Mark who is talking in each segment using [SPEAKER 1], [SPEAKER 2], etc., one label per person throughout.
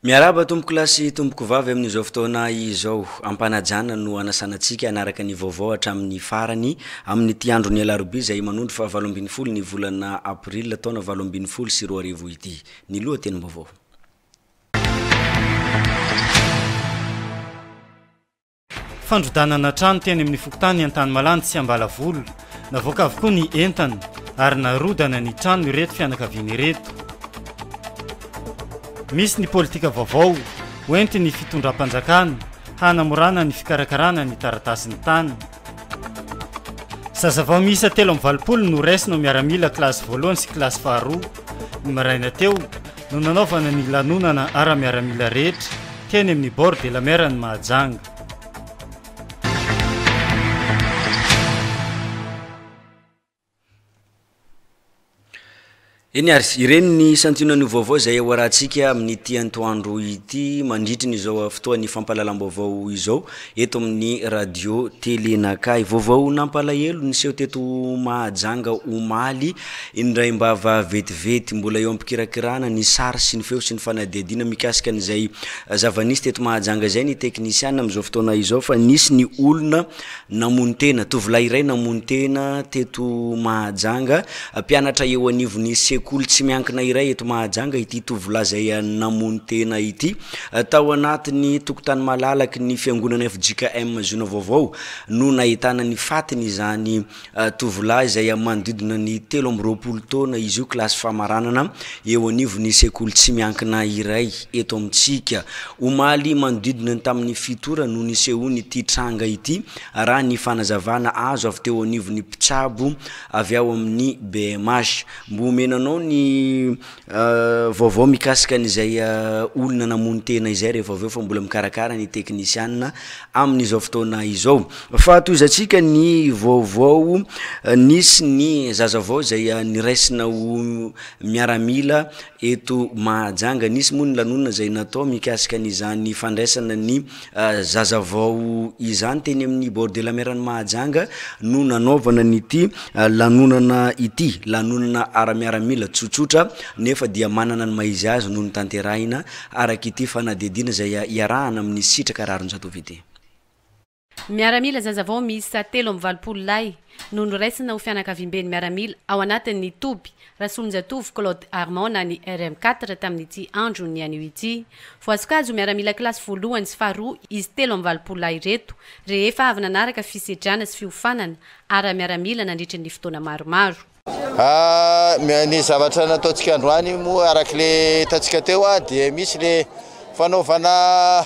[SPEAKER 1] Miaraba tompoko lahy sy tompoko vavy amin'izao fotoana izao. Ampanajana no anasanantsika anaraka ny vaovao hatramin'ny farany amin'ity andro ny alarobia izay manondro fa valo ambin'ny folo ny volana aprila taona valo ambin'ny folo sy roa arivo ity. Ny lohatenim-baovao.
[SPEAKER 2] Fandrodanana trano teny amin'ny fokontany Antanimalandy sy Ambalavola. Navoaka avokoa ny entana ary narodana ny trano ireto fianakaviana ireto. Misy ny politika vaovao hoentin'ny fitondram-panjakana hanamorana ny fikarakarana ny taratasin'ny tany. Zazavao miisa telo amby valopolo no raisina ho miaramila kilasy voalohany sy kilasy faharoa. Ny maraina teo no nanaovana ny lanonana ara-miaramila rehetra teny amin'ny bord de la mer an'i Mahajanga.
[SPEAKER 1] Eny ary, ireny ny santionany ho vaovao izay hoarahantsika amin'ity antoandro ity mandritry ny izao fotoan'ny fampahalalam-baovao izao eto amin'ny radio tele Nakahy. Vaovao nampalahelo niseho teto Mahajanga omaly, indraim-bava vetivety. Mbola eo am-pikirakirana ny sary sy ny feo sy ny fanadihadiana mikasika an'izay zava-nisy teto Mahajanga izay ny teknisiana amin'izao fotoana izao fa nisy ny olona namono tena, tovolahy iray namono tena teto Mahajanga. Mpianatra eo anivon'ny sekoly tsy miankina iray eto Mahajanga ity tovolahy izay namono tena ity. Tao anatin'ny tokotany malalaky ny fiangonana fjkm Zoona Vaovao no nahitana ny fatiny izany Tovolahy izay amin'ny manodidina ny telo amby roapolo taona izy io, kilasy famaranana eo anivon'ny sekoly tsy miankina iray eto amintsika. Omaly manodidina ny tamin'ny fito ora no nisehoan'ity tranga ity, raha ny fanazavana azo avy teo anivon'ny mpitsabo avy ao amin'ny BMH. Mba omena anao ny Vaovao mikasika an'izay olona namono tena izay rehefa avy eo fa mbola mikarakara ny teknisianina amin'izao fotoana izao. Fahatohizantsika ny vaovao nisy ny zaza vao izay niraisina ho miaramila eto Mahajanga. Nisy moa ny lanonana izay natao mikasika an'izany fandraisana ny Zaza vao izany teny amin'ny bord de la mer any Mahajanga no nanaovana an'ity lanonana ity. Lanonana ara-miaramila tsotsotra nefa dia manana ny maha izy azy no notanterahina araka ity fanadihadiana izay iarahana amin'ny sitraka Raronjatovo ity.
[SPEAKER 3] Miaramila zaza vao miisa telo amby valopolo lahy no noraisina ho fianakaviamben'ny miaramila ao anatin'ny toby Rasoaminjatovo Claude Armand na ny RM quatre tamin'ity andro nihaino ity. Voasokazo miaramila kilasy voalohany sy faharoa izy telo amby valopolo lahy ireto, rehefa avy nanaraka fisedrana sy fiofanana ara-miaramila nandritry ny fotoana maromaro.
[SPEAKER 4] Ny zavatra nataontsika androany moa araka ilay hitantsika teo dia misy ilay fanaovana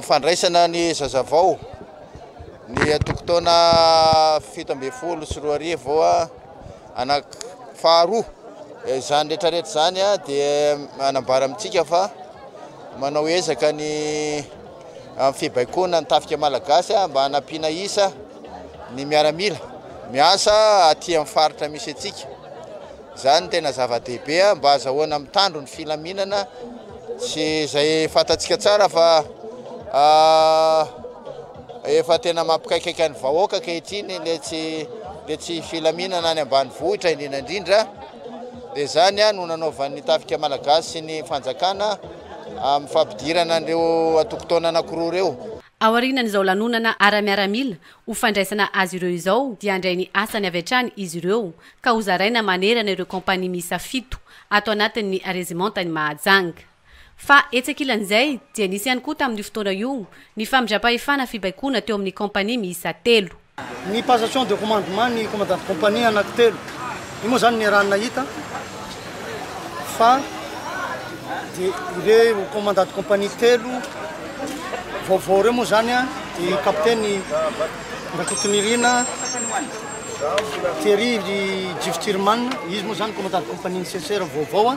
[SPEAKER 4] fandraisana ny zazavao ny tokon-taona fito ambin'ny folo sy roa arivo. Anak faharoa izany rehetra rehetra izany dia manambara amintsika fa manao ezaka ny amin'ny fibaikoana ny tafika malagasy mba hanampiana isa ny miaramila miasa aty amin'ny faritra misy antsika izany tena zava-dehibe mba azahoana mitandro ny filaminana sy izay fantatsika tsara fa ah, Efa tena mampikaikaika ny vahoaka ankehitriny le tsy le tsy filaminana any ambanivohitra indrindra indrindra dia izany ah, no nanaovan'ny tafika malagasy sy ny fanjakana amin'ny fampidirana an'ireo antokontaona anankiroa ireo. Aorianan'izao
[SPEAKER 3] lanonana ara-miaramila ho fandraisana azy ireo izao dia handray ny asany avy hatrany izy ireo ka hozaraina manerana ireo kaompania miisa fito ato anatin'ny Rezimantany Mahajanga. Fa etsy ankilan'izay, dia nisy ihany koa tamin'io fotoana io ny famindram-pahefana fibaikoana teo amin'ny kaompania miisa telo. Ny passation
[SPEAKER 5] de commandement ny commandant de compagnie anankitelo. Io moa izany niarahan'ny nahita fa dia ireo commandant de compagnie telo vaovao ireo moa izany dia i Kapiteny Rakotonirina Thierry Ry Jifty Rimana, izy moa izany commandant de compagnie-n'ny CSR vaovao.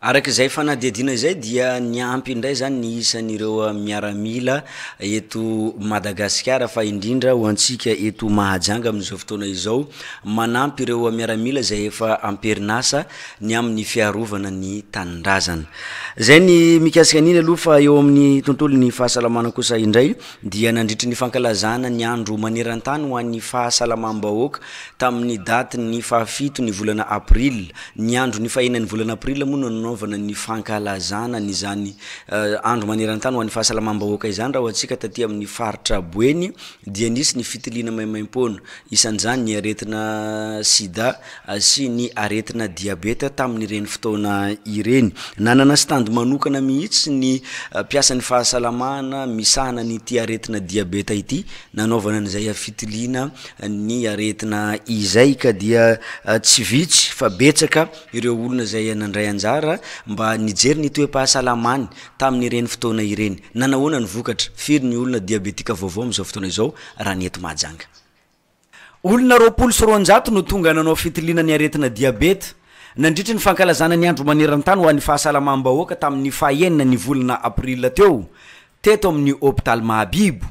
[SPEAKER 1] Araka izay fanadihadiana izay dia niampy indray zany ny isan'ireo ah, miaramila eto Madagasikara fa indrindra ho antsika eto Mahajanga amin'izao fotoana izao manampy ireo miaramila izay efa amperinasa ny amin'ny fiarovana ny tanindrazana. Izay ny mikasika an'iny aloha fa eo amin'ny tontolon'ny fahasalamana kosa indray dia nandritry ny fankalazana ny andro maneran-tany ho an'ny fahasalamam-bahoaka tamin'ny daty ny fahafito ny volana aprila, ny andro ny fahenan'ny volana aprila moa no nanaovana ny fankalazana an'izany andro maneran-tany ho an'ny fahasalamam-bahoaka izany, raha ho antsika taty amin'ny faritra Boeny dia nisy ny fitiliana maimaim-poana, isan'izany ny aretina sida sy ny aretina diabeta tamin'ireny fotoana ireny. Nanana stand manokana mihitsy ny mpiasan'ny fahasalamana misahana an'ity aretina diabeta ity nanaovana an'izay fitiliana ny aretina izay ka dia tsy vitsy fa betsaka ireo olona izay nandray anjara mba nijery ny toe-pahasalamany tamin'ireny fotoana ireny. Nanahoana ny vokatra? Firy ny olona diabetika vaovao amin'izao fotoana izao raha ny eto Mahajanga? Olona roapolo sy roanjato no tonga nanao fitiliana ny aretina diabeta, nandritry ny fankalazana ny andro maneran-tany ho an'ny fahasalamam-bahoaka tamin'ny faha enina ny volana aprila teo, teto amin'ny hopitaly Mahabibo.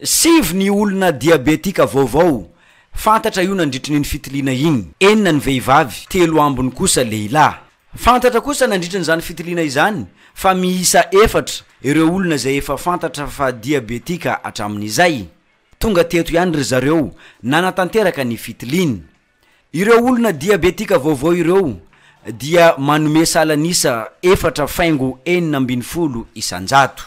[SPEAKER 1] Sivy ny olona diabetika vaovao fantatra io nandritrin'iny fitiliana iny, enina ny vehivavy, telo ambiny kosa lehilahy. Fantatra kosa nandritrin'izany fitiliana izany fa miisa efatra ireo olona izay efa fantatra fa diabetika hatramin'izay. Tonga teto ihany ry zareo nanatanteraka ny fitiliany. Ireo olona diabetika vaovao ireo dia manome salan'isa efatra faingo enina ambin'ny folo isan-jato.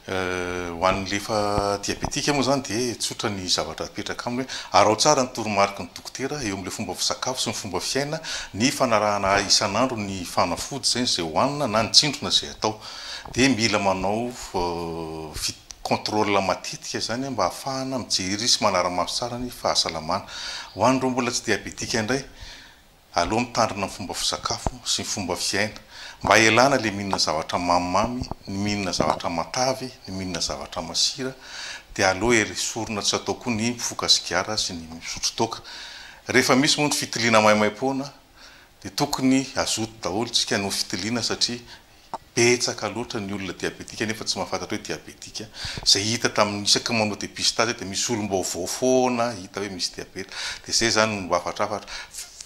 [SPEAKER 6] Ho an'ilay efa diabetika moa izany dia tsotra ny zavatra apetraka aminy hoe, araho tsara ny toromariky ny dokotera eo amin'ilay fomba fisakafo sy ny fomba fiaina, ny fanarahana isan'andro ny fanafody izay izay hohanina na ny tsindrona izay atao. Dia mila manao vi contrôle matetika izany mba hahafahana mijery sy manara-maso tsara ny fahasalamana. Ho an'ireo mbola tsy diabetika indray, aleo mitandrina ny fomba fisakafo sy ny fomba fiaina. Mba ialana ilay mihinana zavatra mamimamy, ny mihinana zavatra matavy, ny mihinana zavatra masira. Dia aleo esorina tsy atao koa ny mifoka sigara sy ny misotro toaka. Rehefa misy moa ny fitiliana maimaim-poana dia tokony hazoto daholo isika noho fitiliana satria Betsaka loatra ny olona diabetika nefa tsy mahafantatra hoe diabetika. Izay hita tamin'ny isaky manao dépistage dia misy olom-baovao foana hita hoe misy diabeta. Dia izay izany no hafatrafatra.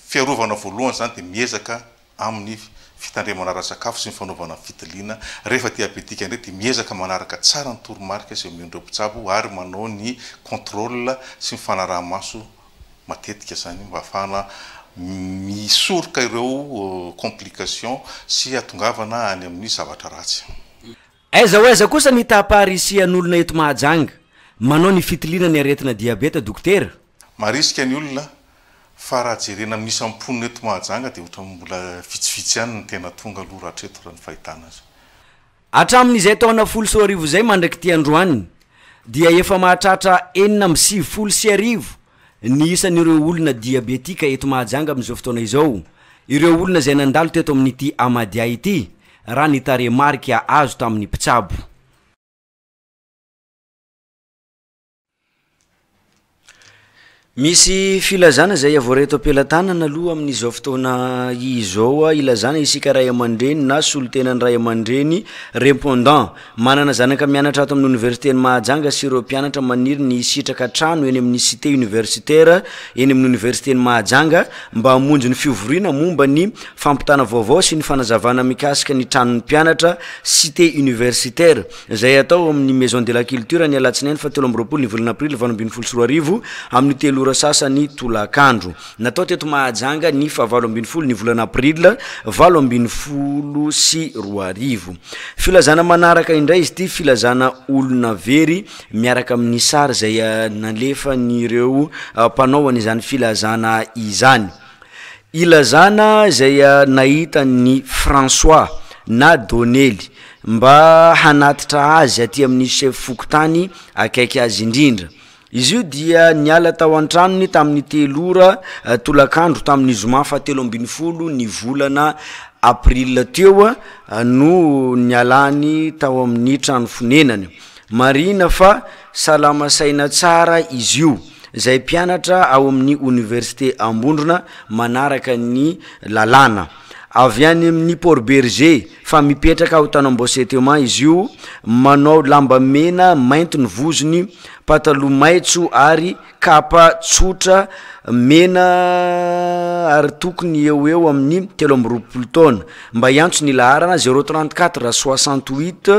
[SPEAKER 6] Fiarovana voalohany izany dia miezaka amin'ny fitandremana ara-tsakafo sy ny fanaovana ny fitiliana. Rehefa diabetika indray dia miezaka manaraka tsara ny toromarika izay omen'ireo mpitsabo ary manao ny contrôle sy ny fanaraha-maso matetika izany mba hahafahana misoroka ireo complications sy hatongavana any amin'ny zavatra ratsy. Aiza ho
[SPEAKER 1] aiza kosa ny taham-paharisihan'olona eto Mahajanga manao ny fitiliana ny aretina diabeta dokotera? Marisika ny
[SPEAKER 6] olona fa raha jerena amin'ny isam-ponina eto Mahajanga dia ohatran'ny mbola vitsivitsy ihany ny tena tonga aloha rahatreto raha ny fahitana azy. Hatramin'izay
[SPEAKER 1] taona folo sy roa arivo izay mandrak'ity androany dia efa mahatratra enina amby sivifolo sy arivo ny isan'ireo olona diabetika eto Mahajanga amin'izao fotoana izao, ireo olona izay nandalo teto amin'ity Amadia ity, raha ny tarehimarika azo tamin'ny mpitsabo. Misy filazana izay avoray eto am-pelatanana aloha amin'izao fotoana izao hilazana isika ray aman-dreny na solontenan'ny ray aman-dreny répondant. Manana zanaka mianatra ato amin'ny oniversiten'i Mahajanga sy ireo mpianatra maniry ny hisitraka trano eny amin'ny cité universitaire eny amin'ny oniversiten'i Mahajanga mba hamonjy ny fivoriana momba ny fampitana vaovao sy ny fanazavana mikasika ny tranon'ny mpianatra cité universitaire. izay hatao ao amin'ny Maison de la Culture ny alatsinainy fahatelo amby roapolo ny volana aprily valo ambin'ny folo sy roa arivo amin'ny telo ora sasany tolakandro. Natao teto Mahajanga ny fahavalo ambin'ny folo ny volana aprily valo ambin'ny folo sy roa arivo. Filazana manaraka indray izy ity, filazana olona very miaraka amin'ny sary izay nalefan'ireo mpanao an'izany filazana izany. Ilazana izay nahitany ny François na Donely mba hanatitra azy aty amin'ny chef fokontany akaiky azy indrindra. Izy io dia niala tao an-tranony tamin'ny telo ora tolakandro tamin'ny zoma fahatelo ambin'ny folo ny volana aprila teo no nialany tao amin'ny trano fonenany. Marihina fa. Salama saina tsara izy io, izay mpianatra ao amin'ny Oniversite Ambondrona manaraka ny lalàna. Avy any amin'ny Port Bergé fa mipetraka ao Tanambao-Seteman izy io, manao lamba mena mainty ny vozony, pataloha maitso ary kapa tsotra mena ary tokony eo ho eo amin'ny telo amby roapolo taona. Mba hiantso ny laharana, zéro trente quatre soixante huit.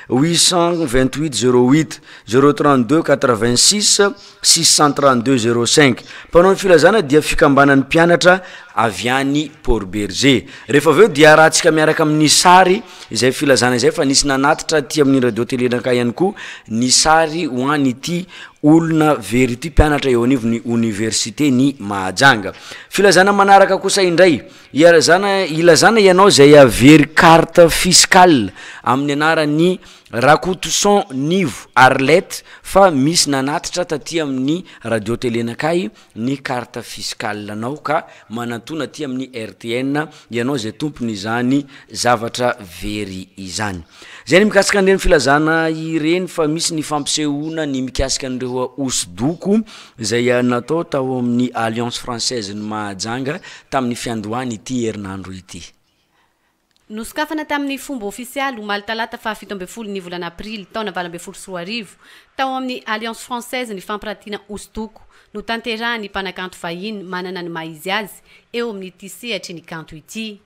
[SPEAKER 1] 828 08 032 86 632 05 mpanao ny filazana dia fikambanan'ny mpianatra avy any port berge rehefa avy eo dia rahantsika miaraka amin'ny sary izay filazana izay fa nisy nanatitra aty amin'ny radio telenankah ihany koa ny sary ho any ity olona very ity mpianatra eo anivon'ny oniversite ny mahajanga filazana manaraka kosa indray Ilazana ilazana ianao izay havery carte fiscale amin'ny anaran'i Rakotoson Nivo Arlette fa misy nanatitra taty amin'ny radio tele Nakay ny carte fiscale nao ka manantona aty amin'ny RTN ianao izay tompon'izany zavatra very izany. Izay ny mikasika an'ireny filazana ireny fa misy ny fampisehoana ny mikasika an'ireo hosodoko izay natao tao amin'ny Alliance Française-n'i Mahajanga tamin'ny fiandohan'ity herinandro ity.
[SPEAKER 3] Nosokafana tamin'ny fomba ofisialy omaly talata faha fito ambin'ny folo ny volana aprily taona valo ambin'ny folo sy roa arivo tao amin'ny Alliance Française ny fampirantiana hosodoko notanterahan'ny mpanakanto vahiny manana ny maha izy azy eo amin'ity sehatry ny kanto ity.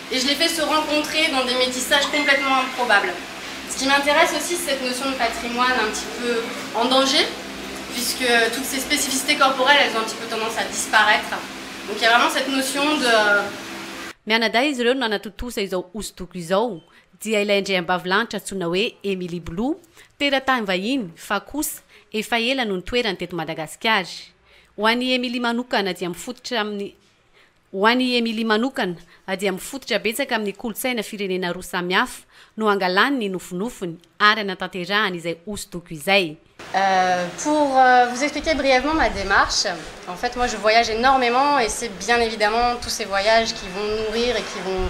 [SPEAKER 7] Et je les fait se rencontrer dans des métissages complètement improbables. Ce qui m'intéresse aussi c'est cette notion de patrimoine un petit peu en danger puisque toutes ces spécificités corporelles elles ont un petit peu tendance à disparaître. Donc il y a vraiment cette notion de. Mianadahy
[SPEAKER 3] izy ireo no nanatontosa izao hosodoko izao dia ilay andriambavilanitra antsoina hoe Emily Blue, teratany vahiny fa kosa efa ela no nitoerany teto Madagasikara. Ho an'i Emily manokana dia mifototra amin'ny. Ho an'i Emily manokana, dia mifototra betsaka amin'ny kolontsaina firenena roa samihafa no angalany ny nofinofiny ary anatanterahany izay hosodoko izay. Pour
[SPEAKER 7] vous expliquer brièvement ma démarche, en fait moi je voyage énormément et c'est bien évidemment tous ces voyages qui vont nourrir et qui vont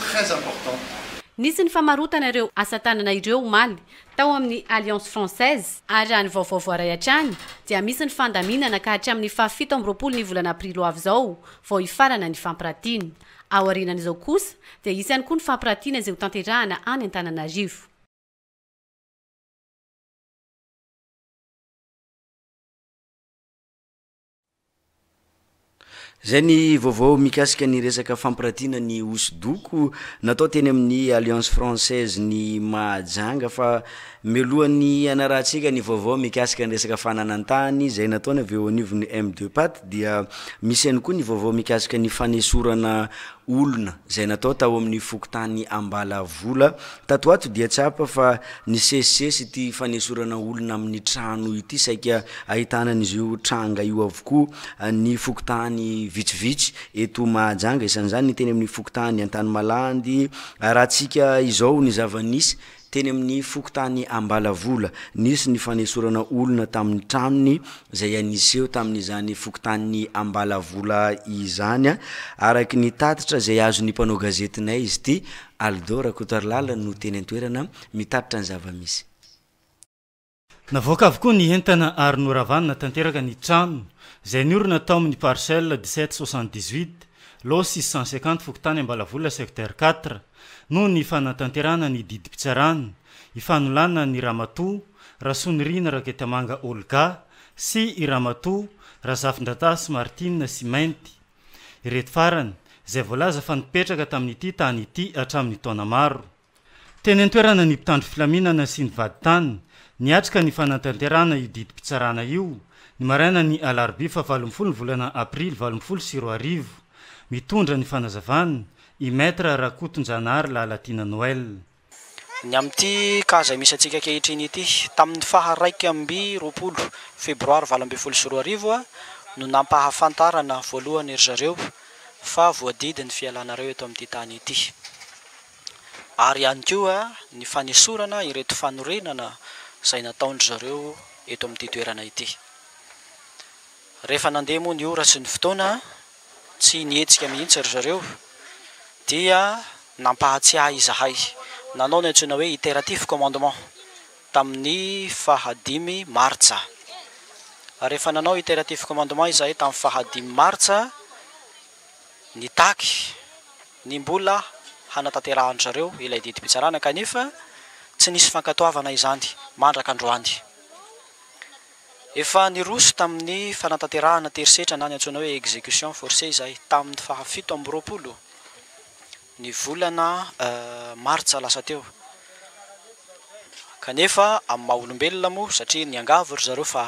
[SPEAKER 8] très importante. Nisy ny
[SPEAKER 3] famarotana ireo asa tanana ireo omaly tao amin'ny Alliance Française ary raha ny vaovao voaray hatrany dia misy ny fandaminana ka hatramin'ny faha fito amby roapolo ny volana aprily ho avy izao vao hifarana ny fampiratiana. Aorianan'izao kosa dia hisy ihany koa ny fampiratiana izay hotanterahana any Antananarivo.
[SPEAKER 1] Izay ny vaovao mikasika ny resaka fampiratiana ny hosodoko natao teny amin'ny Alliance Française ny Mahajanga fa mialohan'ny hanarahantsika ny vaovao mikasika ny resaka fananantany izay nataony avy eo anivon'ny MDPAT dia misy ihany koa ny vaovao mikasika ny fanesorana olona izay natao tao amin'ny fokontany Ambalavola Tato ato dia tsapa fa nisesisesy ity fanesorana olona amin'ny trano ity, saika ahitana an'izy io tranga io avokoa ny fokontany vitsivitsy eto Mahajanga, isan'izany ny teny amin'ny fokontany Antanimalandy, arahantsika izao ny zava-nisy teny amin'ny fokontany Ambalavola, nisy ny fanesorana olona tamin'ny tranony izay niseho tamin'izany fokontany Ambalavola izany, araka ny tatitra izay azon'ny mpanao gazetinay izy ity. Aldo Rakotoarilala no teny an-toerana mitatitra ny zava-misy.
[SPEAKER 2] Navoaka avokoa ny entana ary noravanina tanteraka ny trano izay niorina tao amin'ny parcelle dix-sept soixante-dix-huit lot six cent cinquante fokontany Ambalavola secteur quatre noho ny fanatanterahana ny didim-pitsarana ifanolanana ny ramatoa Rasoanirina Raketamanga Olga sy i ramatoa Razafindratasy Martine sy Mainty Ireto farany, izay voalaza fa nipetraka tamin'ity tany ity hatramin'ny taona maro. Teny an-toerana ny mpitandro filaminana sy ny vadintany, niatrika ny fanatanterahana io didim-pitsarana io, ny marainan'ny alarobia fahavalo ambin'ny folo ny volana aprily valo ambin'ny folo sy roa arivo. Mitondra ny fanazavana, i Maître Rakotonjanahary Lalatiana Noël. Ny amin'ity
[SPEAKER 9] kaza misy antsika ankehitriny ity. Tamin'ny faha iraika amby roapolo febroary valo ambin'ny folo sy roa arivo no nampahafantarana voalohany ry zareo fa voadidy ny fialanareo eto amin'ity tany ity. Ary ihany koa ny fanesorana ireto fanorenana izay nataon-dry zareo eto amin'ity toerana ity. Rehefa nandeha moa ny ora sy ny fotoana, Tsy nihetsika mihitsy ry zareo, dia nampahatsiahy izahay nanao ny antsoina hoe iteratif commandement tamin'ny faha dimy martsa. Rehefa nanao iteratif commandement izahay tamin'ny faha dimy martsa, nitaky ny mbola hanatanterahan-dry zareo ilay didim-pitsarana, kanefa tsy nisy fankatoavana izany mandraka androany. Efa niroso tamin'ny fanatanterahana an-terisetra na ny antsoina hoe exécution forcée izahay, tamin'ny faha fito amby roapolo ny volana martsa lasa teo. Kanefa, amin'ny maha olombelona moa, satria niangavy ry zareo fa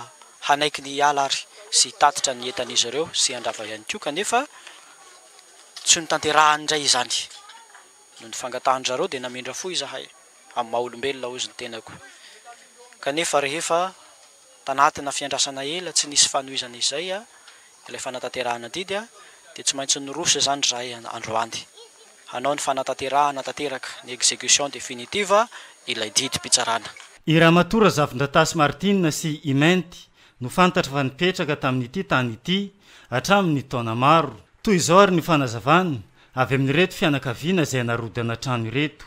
[SPEAKER 9] hanaiky ny hiala ary sy hitatitra ny entan'izy ireo sy handrava ihany koa, kanefa tsy notanterahany indray izany. Noho ny fangatahan-dry zareo dia namindra fo izahay. amin'ny maha olombelona ozy ny tenako. Kanefa rehefa tanatina fiandrasana ela tsy nisy fanohizana izay ilay fanatanterahana adidy dia tsy maintsy niroso izany izahay androany hanao ny fanatanterahana tanteraka, ny exécution définitive, ilay didim-pitsarana. I
[SPEAKER 2] Ramatoa Razafindratasy Martine sy i Mainty no fantatra fa nipetraka tamin'ity tany ity hatramin'ny taona maro. Toy izao ary ny fanazavana avy amin'ireto fianakaviana izay narodana trano ireto.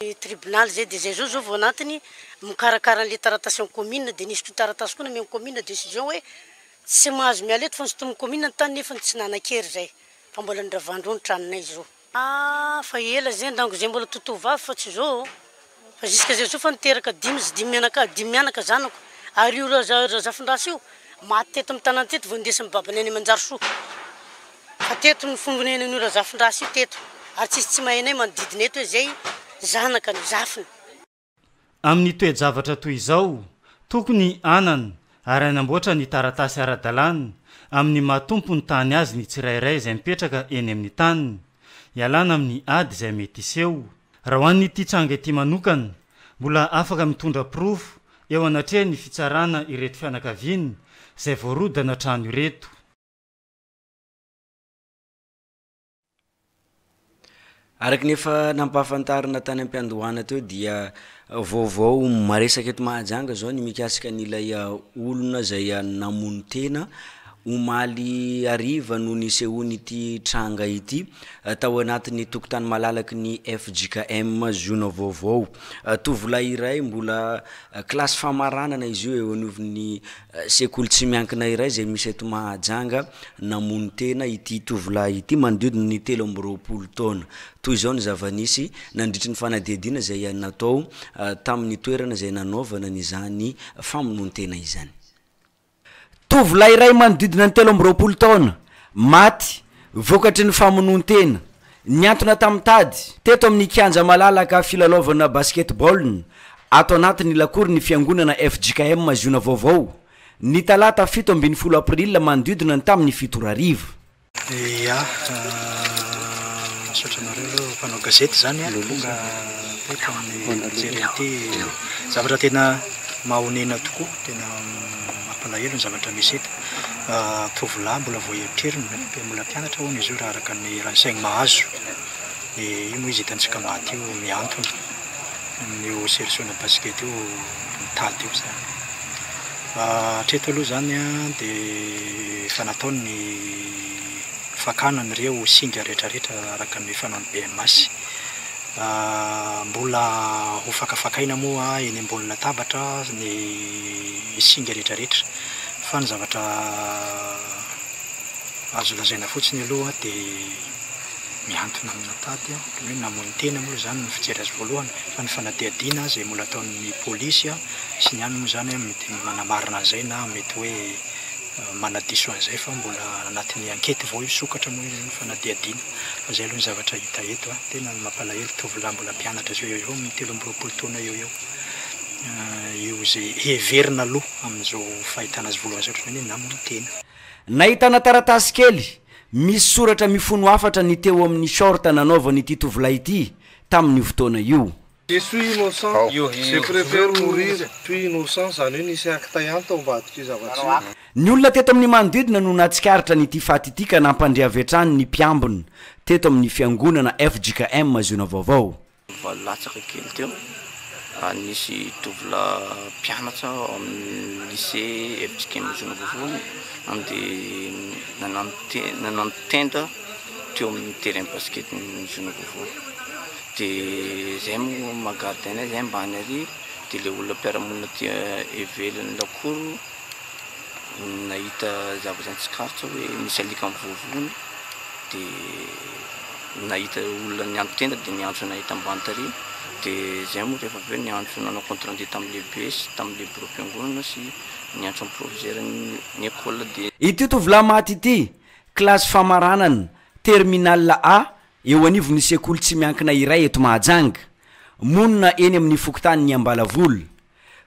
[SPEAKER 10] ny tribunal izay dia izay zao zao vao anatiny mikarakara anle taratasy en commune dia nisy koa taratasy koa nameo ny commune decision hoe tsy mahazo miala eto fa nosintoniny commune ny tany nefany tsy nanakery izay fa mbola ny ravandro ny tranonay zo ah fa ela izay ndango izay mbola to tovavy fa tsy zo fa jusque izay zo fa niteraka dimy zy dimy mianakavy dimy mianaka zanako ary io raza razafindrasa io maty teto am tanan teto vao nindesiny babany any manjarisoa. Fa teto no fombonenan'io Razafindrasa io teto ary tsisy tsy mahay anay manodidina eto hoe zay zanaka no zafiny.
[SPEAKER 2] Amin'ny toe-javatra toy izao, tokony hanan ary hanamboatra ny taratasy ara-dalàna amin'ny maha tompon'ny tany azy ny tsirairay izay mipetraka eny amin'ny taniny, hialana amin'ny ady izay mety hiseho. Raha ho an'ity tranga ity manokana, mbola afaka mitondra porofo eo anatrehan'ny fitsarana ireto fianakaviana izay voarodana trano ireto.
[SPEAKER 1] Araka ny efa nampahafantarina tany am-piandohana teo dia vaovao maresaka eto Mahajanga zao ny mikasika an'ilay olona zay namono tena omaly hariva no nisehoan'ity tranga ity tao anatin'ny tokotany malalaky ny fjkm zona vaovao, tovolahy iray mbola kilasy famaranana izy io eo anivon'ny. Sekoly tsy miankina iray izay misy eto Mahajanga namono tena ity tovolahy ity manodidina ny telo amby roapolo taona. Toy izao ny zava-nisy, nandritry ny fanadihadiana izay natao tamin'ny toerana izay nanaovana an'izany famonoan-tena izany. Tovolahy iray manodidina ny telo amby roapolo taona, maty vokatry ny famonoan-tena Niantona tamin'ny tady, teto amin'ny kianja malalaka filalaovana basketball ato anatin'ny lakory ny fiangonana fjkm Ziona Vaovao, ny talata fito ambin'ny folo april manodidina ny tamin'ny fito ora hariva. Ya,
[SPEAKER 11] misaotra anareo aloha mpanao gazety izany an, tonga teto amin'ny mijery an'ity zavatra tena mahonena tokoa, tena. Mampalahelo ny zavatra misy eto. Tovolahy mbola vao eritreriny, mbola mpianatra hono izy io raha araka ny eran-tsaigny mahazo. Dia io moa izy hitantsika maty io mihantona amin'io serisiona basikety io mitady io izany. Hatreto aloha izany dia efa natao ny fakana an'ireo singa rehetrarehetra araka ny fanaon'ny BMAS. Mbola ho fakafakaina moa eny ambony latabatra ny singa rehetrarehetra. Fa ny zavatra azo lazaina fotsiny aloha dia mihantona amina tady hoe namono tena moa izany ny fijery azy voalohany. Fa ny fanadihadiana izay mbola ataon'ny polisy sy ny any moa izany mety manamarina an'izay na mety hoe manadiso an'izay fa mbola anatin'ny ankety vao hisokatra moa izany fanadihadiana. Fa zay aloha ny zavatra hita eto a! Tena ny mampalahelo tovolahy mbola mpianatra zao eo eo amin'ny telo amby roapolo taona eo eo io izay heverina aloha amin'izao fahitana azy voalohany zao otrany hoe namany tena. Nahitana
[SPEAKER 1] taratasy kely misy soratra mifono hafatra ny teo amin'ny short nanaovan'ity tovolahy ity tamin'io fotoana io. Je suis
[SPEAKER 12] innocent, je prefère mourir puis innocent, izany hoe nisy acte ihany tao ambadik'io zava-tsy. Ny olona teto amin'ny
[SPEAKER 1] manodidina no nahatsikaritra an'ity faty ity ka nampandre avy hatrany ny mpiambina teto amin'ny fiangonana fjkm Ziona Vaovao. Valo latsaka
[SPEAKER 13] kely teo ary nisy tovolahy mpianatra ao amin'ny lycée fjkm Ziona Vaovao no nandeha nanano tenda teo amin'ny terrain basket-n'ny Ziona Vaovao. De zay moa maha gardien azy ambany ary de le olona mpiara-monina aty ivelan'ny lakoro nahita zavatra nitsikaritra hoe misy alika mivoavoa de nahita olona niantso tena de niantso anay aty ambany tary de zay moa rehefa avy eo niantso nanao compte rendu tamin'ny lehibe sy tamin'ny le biraom-piangonana sy niantso an'ny proviseuran'ny ecole de. Ity tovolahy maty
[SPEAKER 1] ity, kilasy famaranana, terminale A, Eo anivon'ny sekoly tsy miankina iray eto Mahajanga, monina eny amin'ny fokontanin'i Ambalavola.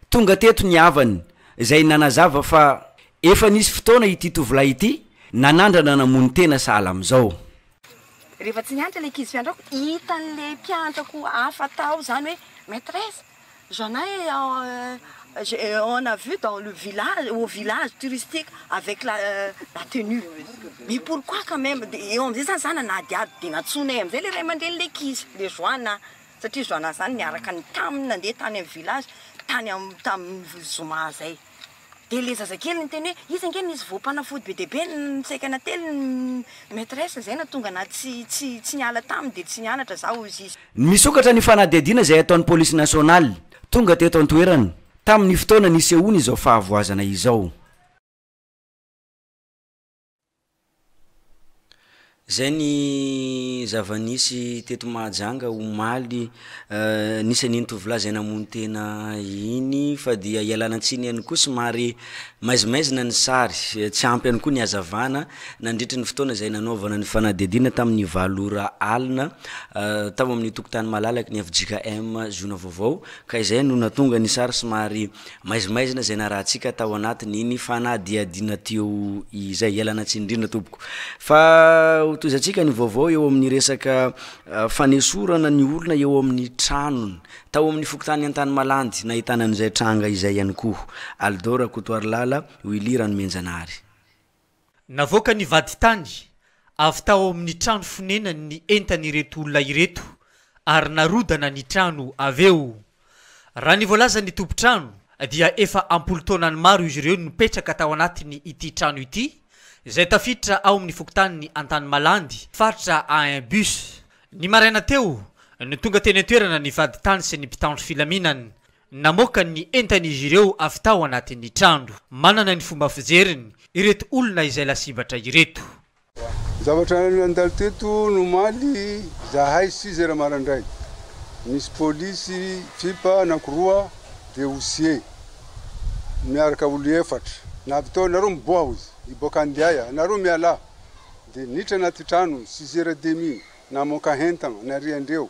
[SPEAKER 1] Tonga teto ny havany, izay nanazava fa efa nisy fotoana ity tovolahy ity nanandrana namono tena sahala amin'izao. Rehefa
[SPEAKER 14] tsy nianatra ilay ankizy fiantrako, hitan'ilay mpiantrako hafa tao izany hoe, Maîtresse, J'en ai on a vu dans le village au village touristique avec la la tenue mais pourquoi quand meme de eo amzay zany za nanadihady de nantsoinay amzay le ray aman-dreny le kizy le Joana satria Joana zany niaraka ny tamin'ny nandeha tany amin'ny village tany am tamin'ny zoma zay. Dia le zazakely niteny hoe iza ange nisy voampanafody be dia be nisaika nately ny maitresse izay nahatonga anah tsy tsy tsy niala taminy dia tsy nianatra zah hoy izy. Misokatra ny
[SPEAKER 1] fanadihadiana izay ataon'ny polisy nasionaly tonga teto an-toerana tamin'ny fotoana nisehoan'izao fahavoazana izao. Izay ny zava-nisy teto Mahajanga omaly. Nisy an'iny tovolahy izay namono tena iny fa dia ialana tsiny ihany koa somary maizimaizina ny sary, tsy ampy ihany koa ny hazavana nandritry ny fotoana izay nanaovana ny fanadihadiana tamin'ny valo ora alina tao amin'ny tokotany malalaky ny fjkm zona vaovao ka izay no nahatonga ny sary somary Maizimaizina izay narahantsika tao anatin'iny fanadihadiana teo izay. Ialana tsiny indrindra tompoko fa hotohizantsika ny vaovao eo amin'ny resaka fanesorana ny olona eo amin'ny tranony tao amin'ny fokontany Antanimalandy nahitana an'izay tranga izay ihany koa. Alidô Rakotoarilala, Willy Ranomenjanahary.
[SPEAKER 15] Navoaka ny vadintany avy tao amin'ny trano fonenany ny entan'ireto olona ireto ary narodana ny trano avy eo. Raha ny voalazan'ny tompon-trano dia efa am-polon-taonany maro izy ireo nipetraka tao anatiny ity trano ity izay tafiditra ao amin'ny fokontanin'i Antanimalandy, faritra Ain Bus. Ny maraina teo no tonga teny an-toerana ny vadintany sy ny mpitandro filaminana Namoaka ny entan'izy ireo avy tao anatin'ny trano. Manana ny fomba fijeriny ireto olona izay lasibatra ireto. Zavatra
[SPEAKER 16] nandalo teto nomaly zahay six heures marandray. Nisy polisy fipa anankiroa dia osier miaraka olo efatra. Navy tao nareo miboha hozy hiboaka andiay anareo mialà. Dia niditra anaty trano six heures demi namoaka hentana nariandreo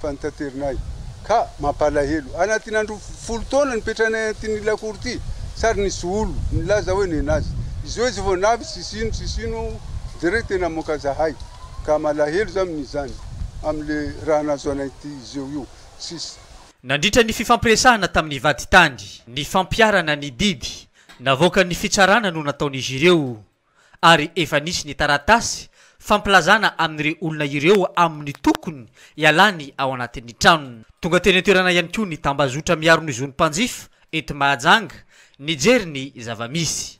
[SPEAKER 16] Fa nitateronay. Ka, mampalahelo. Anatin'ny andro folo taona nipetranay antin'ny lakoro ity, sary nisy olo, nilaza hoe nenazy. Izy hoe zovao navy sy sino sy sino aho, jereo tena amoaka zahay. Ka malahelo za amin'izany, amin'le raha nahazo anay ty zeo io. Tsisy. Nandritra ny
[SPEAKER 15] fifampiresahana tamin'ny vaditany, ny fampiharana ny didy navoakan'ny fitsarana no nataon'izy ireo. ary efa nisy ny taratasy fampilazana amin'ireo olona ireo amin'ny tokony hialany ao anatin'ny tranony. Tonga teny an-toerana ihany koa ny tambazotra miaro ny zon'ny mpanjifa eto Mahajanga nijery ny zava-misy.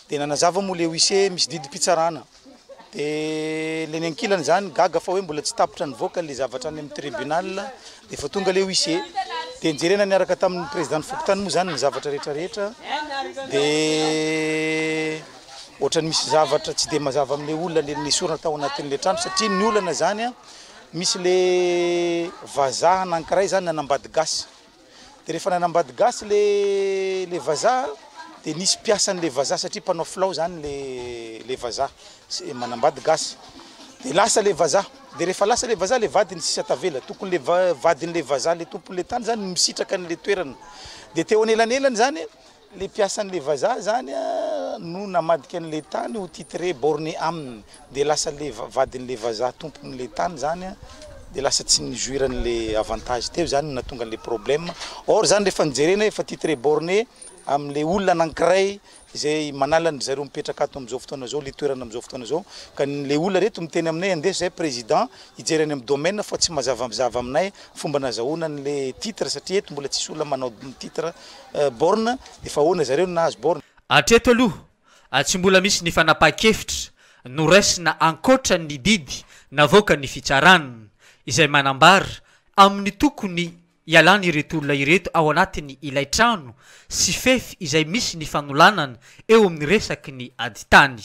[SPEAKER 15] Dia nanazava
[SPEAKER 17] moa ilay huissier hoe misy didim-pitsarana. Dia ilay ny ankilany izany gaga fa hoe mbola tsy tapitra nivoaka ilay zavatra any amin'ny tribunal Dia vao tonga ilay huissier dia njerena niaraka tamin'ny président-n'ny fokontany moa izany ny zavatra rehetra rehetra dia ohatran'ny misy zavatra tsy dia mazava amin'ilay olona le nesorina tao anatin'ilay trano satria ny olana izany a misy le vazaha anankiray izany nanambady gasy dia rehefa nanambady gasy le le vazaha dia nisy mpiasan'ilay vazaha satria mpanao filao izany le le vazaha Tsy manambady gasy de lasa le vazaha de rehefa lasa le vazaha le vadiny sisa tavela tokony le vadiny le vazaha le tompony le tany zany misitraka any le toerana de teo anelanelany zany le mpiasan le vazaha zany no namadika any le tany ho titre borne aminy de lasa le vadiny le vazaha tompony le tany zany a de lasa tsy ni jouir any le avantage teo zany no nahatonga any le problème or zany rehefa ny jerena efa titre borne amin'ilay olona anankiray izay manala ny zareo mipetraka ato amin'izao fotoana izao, ilay toerana amin'izao fotoana izao. Ka ny- ilay olona ireto miteny aminay, andeso izahay président hijery any amin'ny domaine fa tsy mazava zava aminay fomba nazahoana an'ilay titre satria eto mbola tsisy olona manao titre eh, borne, efa ahoana zareo no nahazo borne? Hatreto aloha,
[SPEAKER 15] tsy mbola misy ny fanapahan-kevitra noraisina ankoatra ny didy navoakan'ny fitsarana, izay manambara amin'ny tokony Ialany ireto olona ireto ao anatin' ilay trano sy fefy izay misy ny fanolanana eo amin' ny resaky ny adin-tany.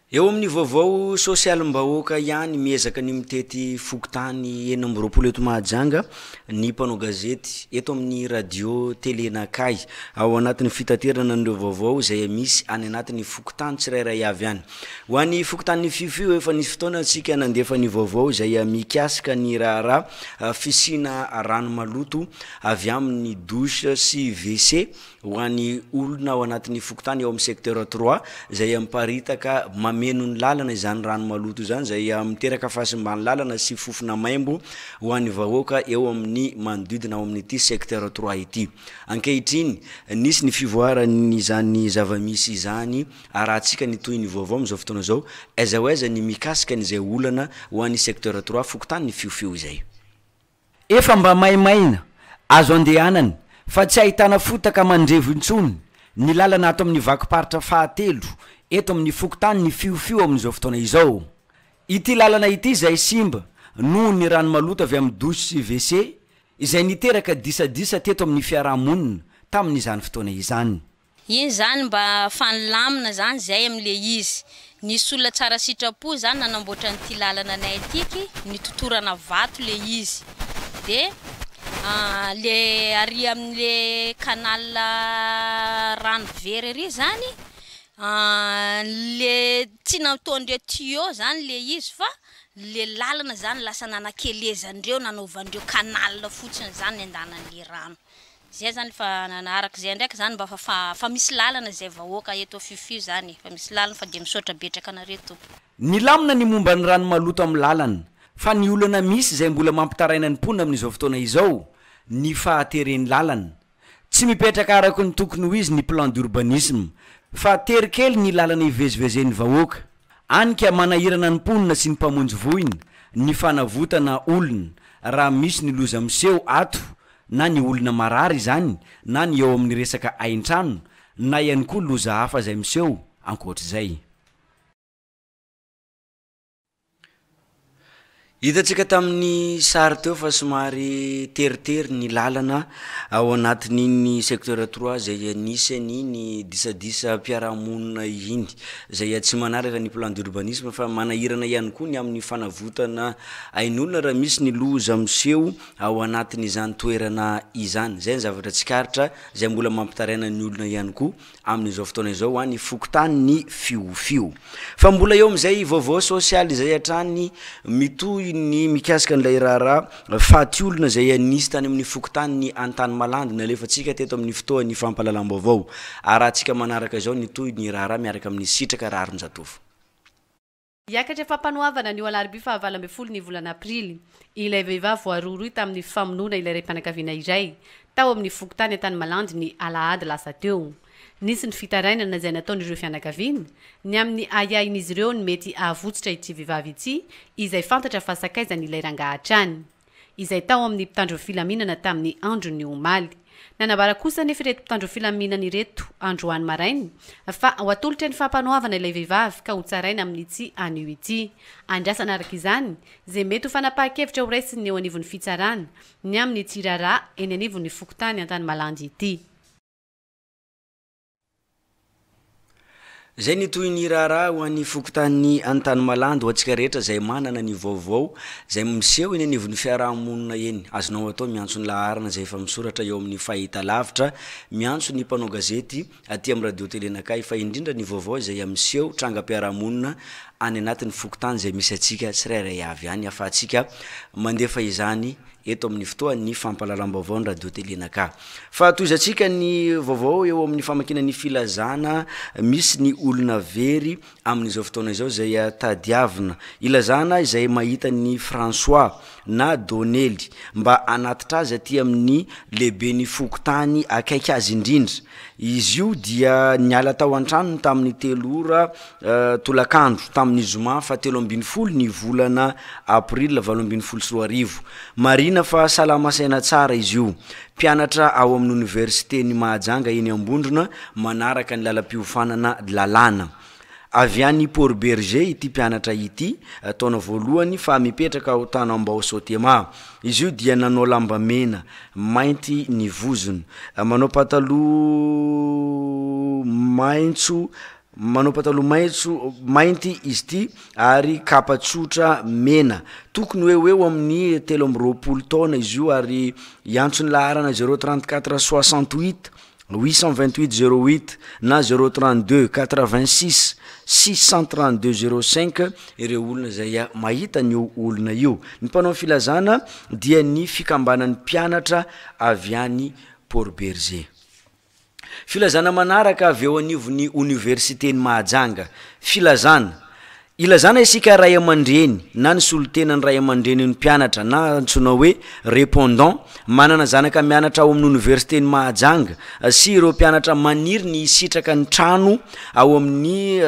[SPEAKER 1] Eo amin'ny vaovao sosialim-bahoaka ihany, miezaka ny mitety fokontany enina amby roapolo eto Mahajanga ny mpanao gazety eto amin'ny Radio Télé Nakahy, ao anatin'ny fitaterana an'ireo vaovao izay misy any anatin'ny fokontany tsirairay avy any. Ho an'ny fokontanin'i Fiffi, efa nisy fotoana isika nandefa ny vaovao izay mikasika ny raharaha fisiana rano maloto avy amin'ny douche sy WC ho an'ny olona ao anatin'ny fokontany ao amin'ny secteur trois izay miparitaka mameno ny lalana izany rano maloto izany izay miteraka fahasimbany lalana sy fofona maimbo ho an'ny vahoaka eo amin'ny manodidina ao amin'ity secteur trois ity. Ankehitriny, nisy ny fivoaran'izany zava-misy izany Arahantsika ny tohin'ny vaovao amin'izao fotoana izao, aiza ho aiza ny mikasika an'izay olana ho an'ny secteur trois fokontany ny fiofio izay. Efa
[SPEAKER 18] mba maimaina, azo andehanana, fa tsy ahitana fotaka mandrevo intsony ny lalana ato amin'ny vakim-paritra fahatelo eto amin'ny fokontany ny fiofio amin'izao fotoana izao. Ity lalana ity izay simba noho ny rano maloto avy amin'ny douche sy wc izay niteraka disadisa teto amin'ny fiaraha-monina tamin'izany fotoana izany. Iny zany
[SPEAKER 19] mba fa nilamina zany zay am le izy. Nisy olona tsara sitrapo zany nanamboatra an'ity lalana anay ity ky nitotorana vato le izy de le ary amle canal rano very ary zany le tsy nataondreo tuyau zany le izy fa le lalana zany lasa nanakelezandreo nanaovandreo canal fotsiny zany nandehananle rano. Zay zany fa nanaraka zay ndraiky zany mba fa fa misy lalana zay vahoaka eto fiffi zany fa misy lalana fa dia misaotra betraka anareo tompoko. Nilamina ny
[SPEAKER 18] momba ny rano maloto amin'ny lalana, fa ny olana misy izay mbola mampitaraina ny mponina amin'izao fotoana izao, ny fahateren'ny lalana. Tsy mipetraka araky ny tokony ho izy ny plan d'urbanisme, fa tery kely ny lalana ivezivezen'ny vahoaka. Any ka manahirana ny mponina sy ny mpamonjy voina ny fanavotana olona raha misy ny loza miseho ato na ny olona marary izany, na ny eo amin'ny resaka hain-trano, na ihany koa loza hafa izay miseho ankoatr'izay.
[SPEAKER 1] Hitantsika tamin'ny sary teo fa somary teritery ny lalana ao anatin'iny secteur trois izay anisan'ny ny disadisam-piarahamonina iny, izay tsy manaraka ny plan d'urbanisme fa manahirana ihany koa ny amin'ny fanavotana ain'olona raha misy ny loza miseho ao anatin' izany toerana izany. Izay ny zavatra tsikaritra, izay mbola mampitaraina ny olona ihany koa amin' izao fotoana izao any fokontany ny fiofio. Fa mbola eo amin' izay vaovao sôsialy izay hatrany mitohy ny mikasika an' ilay raharaha faty olona izay nisy tany amin' ny fokontany ny Antanimalandy nalefantsika teto amin' ny fotoan' ny fampahalalam-baovao. Arahantsika manaraka izao ny tohin' ny raharaha miaraka amin' ny Sitraka Raharinjatovo.
[SPEAKER 3] Hiakatra fampanoavana anio alarobia fahavalo ambin'ny folo ny volana aprily, ilay vehivavy voarohirohy tamin'ny famonoana ilay raim-pianakaviana iray, tao amin'ny fokontany Antanimalandy ny alahady lasa teo. Nisy ny fitarainana izay nataon'ireo fianakaviana, ny amin'ny ahiahin'izy ireo ny mety hahavotsitra ity vehivavy ity, izay fantatra fa sakaizan'ilay rangahy hatrany. izay tao amin'ny mpitandro ny filaminana tamin'ny andron'ny omaly. Nanambara kosa anefa ireto mpitandro ny filaminana ireto androany maraina fa ho atolotra ny fampanoavana ilay vehivavy ka hotsaraina amin'ity anio ity. Andrasana araka izany izay mety ho fanapahan-kevitra ho raisin'ny eo anivon'ny fitsarana ny amin'ity raharaha eny anivon'ny fokontany Antanimalandy ity.
[SPEAKER 1] Izay ny tohin'ny raharaha ho an'ny fokontanin'i Antanimalandy ho antsika rehetra izay manana ny vaovao izay miseho eny anivon'ny fiaraha-monina eny. Azonao atao miantso ny laharana izay efa misoratra eo amin'ny fahitalavitra. Miantso ny mpanao gazety aty amin'ny Radio Tele Nakay fa indrindra ny vaovao izay miseho trangam-piaraha-monina any anatin'ny fokontany izay misy antsika tsirairay avy any ahafahantsika mandefa izany eto amin'ny fotoan'ny fampahalalam-baovao ny Radio Télé Naka. Fa tohizantsika ny vaovao eo amin'ny famakiana ny filazana misy ny olona very amin'izao fotoana izao izay tadiavina. Ilazana izay mahita ny François na Donely mba hanatitra azy aty amin'ny lehiben'ny fokontany akaiky azy indrindra. Izy io dia niala tao an-tranony tamin'ny telo ora tolakandro tamin'ny zoma fahatelo ambin'ny folo ny volana aprila valo ambin'ny folo sy roa arivo. Marihina fa salama saina tsara izy io. Mpianatra ao amin'ny oniversiten'i Mahajanga eny Ambondrona manaraka ny lalam-piofanana lalàna. Avy any Port Bergé ity mpianatra ity, taona voalohany fa mipetraka ao Tanambao Sotema. Izy io dia nanao lamba mena, mainty ny vozony, manao pataloha maitso, Manao pataloha maitso, mainty izy ity ary kapa tsotra mena. Tokony ho eo eo amin'ny telo amby roapolo taona izy io ary hiantso ny laharana zero trente quatre soixante huit huit cent vingt huit zero huit na zero trente deux quatre vingt six six cent trente deux zero cinq ireo olona izay mahita an'io olona io. Ny mpanao ny filazana dia ny fikambanan'ny mpianatra avy any Port Bergé. Filazana manaraka avy eo anivon'ny Oniversiten'i Mahajanga. Filazana. Ilazana isika ray aman-dreny na ny solontenan'ny ray aman-drenin'ny mpianatra na antsoina hoe Répondant manana zanaka mianatra ao amin'ny Oniversiten'i Mahajanga sy ireo mpianatra maniry ny hisitraka ny trano ao amin'ny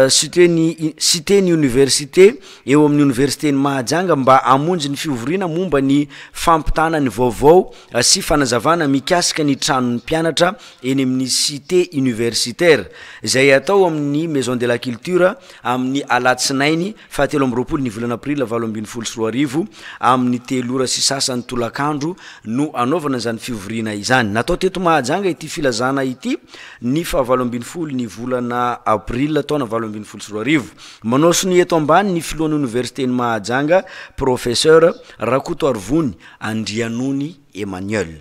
[SPEAKER 1] Site ny Oniversite eo amin'ny Oniversiten'i Mahajanga mba hamonjy ny fivoriana momba ny fampitana ny vaovao sy fanazavana mikasika ny tranon'ny mpianatra eny amin'ny Site Universitaire, izay hatao amin'ny Maison de la Culture, amin'ny alatsinainy Fahatelo amby roapolo ny volana aprila valo ambin'ny folo sy roa arivo, amin'ny telo ora sy sasany tolakandro no hanaovana izany fivoriana izany. Natao teto Mahajanga ity filazana ity ny fahavalo ambin'ny folo ny volana aprila taona valo ambin'ny folo sy roa arivo. Manao sonia eto ambany ny filohan'ny oniversiten'i Mahajanga, Professeur Rakotoarivony Andrianony Emmanuel.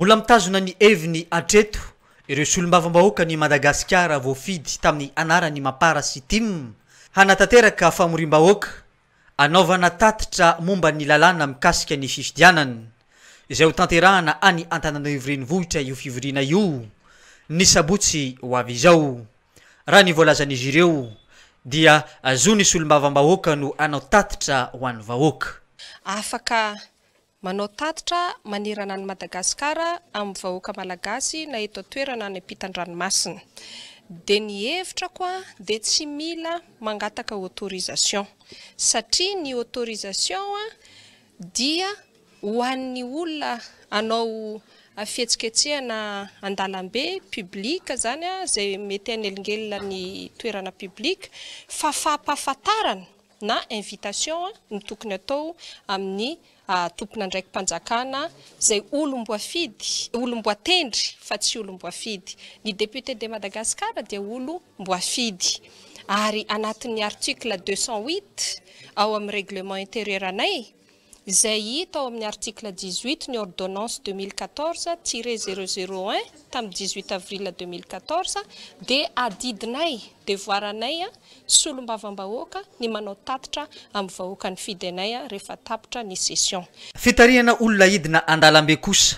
[SPEAKER 1] Mbola
[SPEAKER 15] mitazona ny heviny hatreto ireo solombavambahoakan'i Madagasikara voafidy tamin'ny anaran'i Mapar sy Tim hanatanteraka famoriam-bahoaka hanaovana tatitra momba ny lalàna mikasika ny fifidianana izay ho tanterahana any Antananarivo Renivohitra io fivoriana io ny sabotsy ho avy izao. Raha ny voalazan'izy ireo dia zon'ny solombavambahoaka no hanao tatitra ho an'ny vahoaka. Afaka
[SPEAKER 20] Manao tatitra manerana an'i Madagasikara amin'ny vahoaka Malagasy na eto an-toerana any am-pitan-dranomasina. Dia ny hevitrako dia tsy mila mangataka autorisation satria ny autorisation dia ho an'ny olona hanao fihetsiketsehana an-dalambe, public, izany izay mety hanelingelina ny toerana public, fa fampahafantarana na invitation no tokony atao amin'ny tompon'andraiki-panjakana izay olom-boafidy, olom-boatendry fa tsy olom-boafidy. Ny député de Madagascar dia olom-boafidy ary anatin'ny article deux cent huit ao amin'ny règlement intérieur anay izay hita ao amin'ny article dix-huit ny ordonnance deux mille quatorze tiret zéro zéro un tamin'ny dix-huit avril deux mille quatorze dia adidinay, devoaranay solombavambahoaka ny manao tatitra amin'ny vahoaka nifidy anay rehefa tapitra ny session. Fitarihana olona
[SPEAKER 15] hidina an-dalambe kosa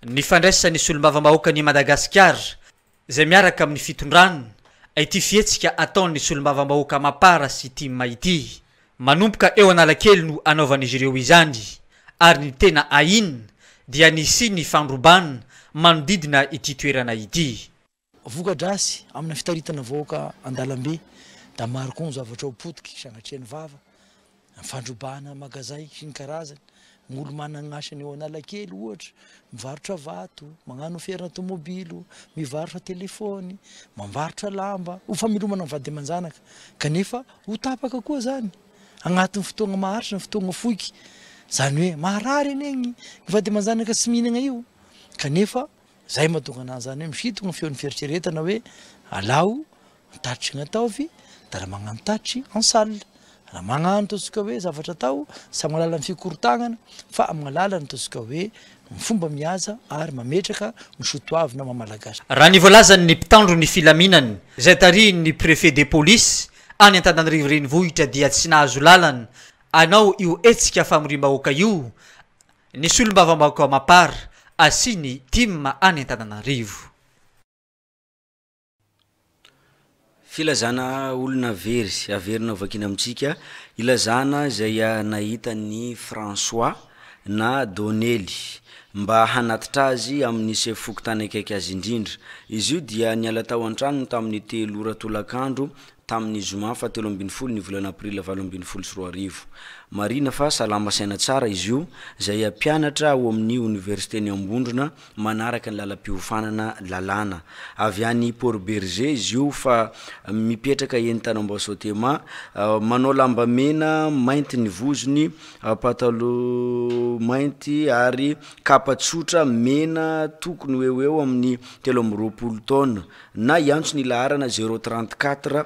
[SPEAKER 15] ny fandraisan'ny solombavambahoakan'i Madagasikara izay miaraka amin'ny fitondran aity fihetsika ataon'ny solombavambahoaka Mapar sy Tim ity. Manomboka eo Analakely no anaovan'izy ireo izany ary ny tena ahin dia nisian'ny fandroban manodidina ity toerana ity. Voka-drasy
[SPEAKER 17] amina fitaritana vahoaka an-dalambe da maro koa ny zavatra ho potiky sanatria ny vava. Ny fandrobana magazay sy ny karazany, ny olo-manana asa any Analakely ohatra, mivarotra vato, magnano ferana tomobilo, mivarotra telefaony, mambarotra lamba, ho famelomana ny vady aman-janaka, kanefa ho tapaka koa zany agnatin'ny fotoagna maharitra na fotoagna foiky, zany hoe maharary anie ny vady aman-janaka tsy mihinagna io, kanefa zay mahatonga ananjy zany hoe misintogna ny feon'ny fieritreretana hoe alao Antatry ny ataovy dia raha magnantatry en salle, raha magnano ataontsika hoe zavatra atao tsy amin'ny alalan'ny fikorontagnana fa amin'ny alalan'ny ataontsika hoe ny fomba mihaza ary mametraka ny sotoavina maha malagasy. Raha ny voalazan'ny
[SPEAKER 15] mpitandro ny filaminana izay tarihin'ny Préfet de Police any Antananarivo Renivohitra dia tsy nahazo lalana anao io hetsika famoriam-bahoaka io ny solombavambahoaka Mapar sy ny Tim any Antananarivo.
[SPEAKER 1] Filazana olona very, averina hovakiana amintsika, ilazana izay nahita an'i François na Donely mba hanatitra azy amin'ny sefo fokontany akaiky azy indrindra. Izy io dia niala tao an-tranony tamin'ny telo ora tolakandro tamin'ny zoma fahatelo ambin'ny folo ny volana aprila valo ambin'ny folo sy roa arivo. Marihina fa salama saina tsara izy io, izay mpianatra ao amin'ny oniversiten'i Ambondrona, manaraka ny lalam-piofanana lalàna. Avy any Port Bergé izy io fa mipetraka eny Tanambao Sotema. Manao lamba mena, mainty ny vozony, pataloha mainty ary kapa tsotra mena tokony ho eo ho eo amin'ny telo amby roapolo taona. Na hiantso ny laharana zéro trente quatre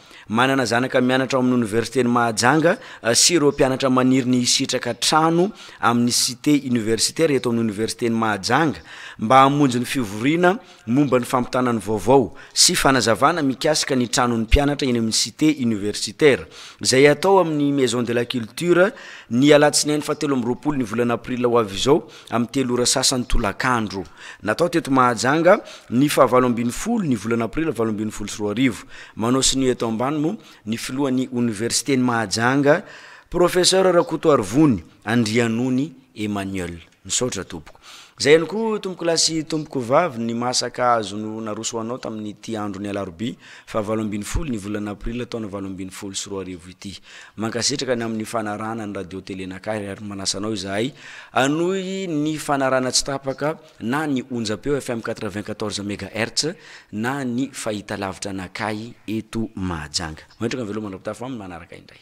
[SPEAKER 1] Manana zanaka mianatra ao amin'ny Oniversiten'i Mahajanga sy ireo mpianatra maniry ny hisitraka trano amin'ny Cité universitaire eto amin'ny Oniversiten'i Mahajanga mba hamonjy ny fivoriana momba ny fampitana ny vaovao sy fanazavana mikasika ny tranon'ny mpianatra eny amin'ny Cité universitaire izay hatao amin'ny Maison de la Culture ny alatsinainy fahatelo amby roapolo ny volana aprila ho avy izao. amin'ny telo ora sasany tolakandro. Natao teto Mahajanga ny fahavalo ambin'ny folo ny volana aprily valo ambin'ny folo sy roa arivo. Manao sonia eto ambany moa ny filohan'ny oniversiten'i Mahajanga, Professeur Rakotoarivony Andrianony Emmanuel. Misaotra tompoko. Izay ihany koa tompokolahy sy tompokovavy ny maha sakahazo no naroso ho anao tamin'ity andron'ny alarobia fahavalo ambin'ny folo ny volana aprily taona valo ambin'ny folo sy roa arivo ity. Mankasitraka ny amin'ny fanarahana ny Radio Télé Nakary ary manasa anao izahay hanohy ny fanarahana tsy tapaka na ny onjam-peo FM quatre-vingt-quatorze mégahertz na ny fahitalavitra Nakahy eto Mahajanga. Mametraka ny veloma Andra-pitafy ho amin'ny manaraka indray.